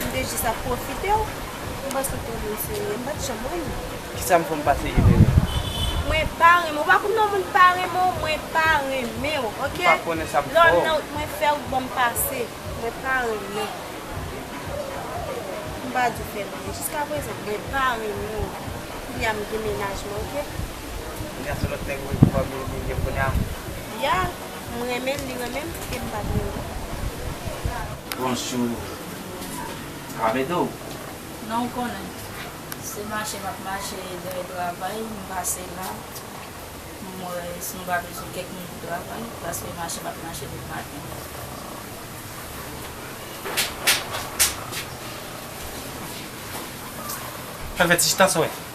M te jis ap pwofite w. M panse w te yon moun serye. M pa t janm renmen w. Kisa m fè m pa serye Nene? Mwen pa renmen w. Ou pa konn non moun pa renmen w? Mwen pa renmen w, oke! M pa konnen sa m fè w. Lè w nan wout mwen fè wout ban m pase. Mwen pa renmen w. M pa di w fè m anyen. Jiska prezan mwen pa renmen w. Kounye a m gen mennaj mwen, oke? Kounye a se lòt nèg ou ye ki pral vini Nene kounye a? Ya! M renmen l li renmen m e m pa t renmen l. Bonjou sa va mede w? Non ou konnen se mache m ap mache dèyè travay m pase la m wè si nou pa bezwen kèk moun pou travay paske mache m ap mache depi maten. Fè vèt si chita sa w wè.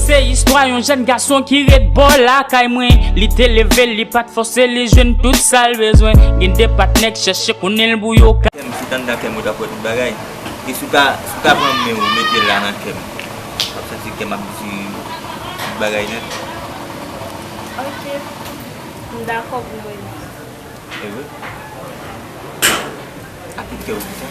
Se istwa yon jèn gason ki ret bò lakay mwen Li te leve li pat fòse li jwenn tout sa l bezwen Gen de patnè k chèche konnen l pou yo ka. Kèm sit anndan kèm ou tap wè tout bagay e si w ta si w ta pran menw ou mete la nan kèm wap santi kèm ap di tout bagay nèt. Ok m dakò pou mwen li. Ewe ak tout kèw di sa.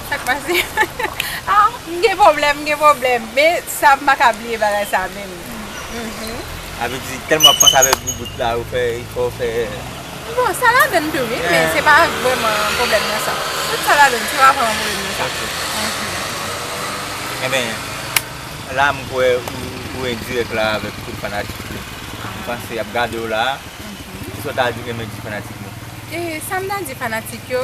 Sak pase ah m gen pwoblèm m gen pwoblèm men sa m paka bliye bagay sa menm mhm. Sa vle di tèlman wap panse avèk boubout la ou fè il fòw fè. Bon sa ladann tou wi men se pa vrèman pwoblèm nan sa tout sa ladann se pa vrèman pwoblèm nan sa mhm. Enben la m kwè ou endirèk la avèk tout fanatik yo m panse yap gadew la mhm. Kisa w ta di menm menm di fanatik yo. Sam ta di fanatik yo.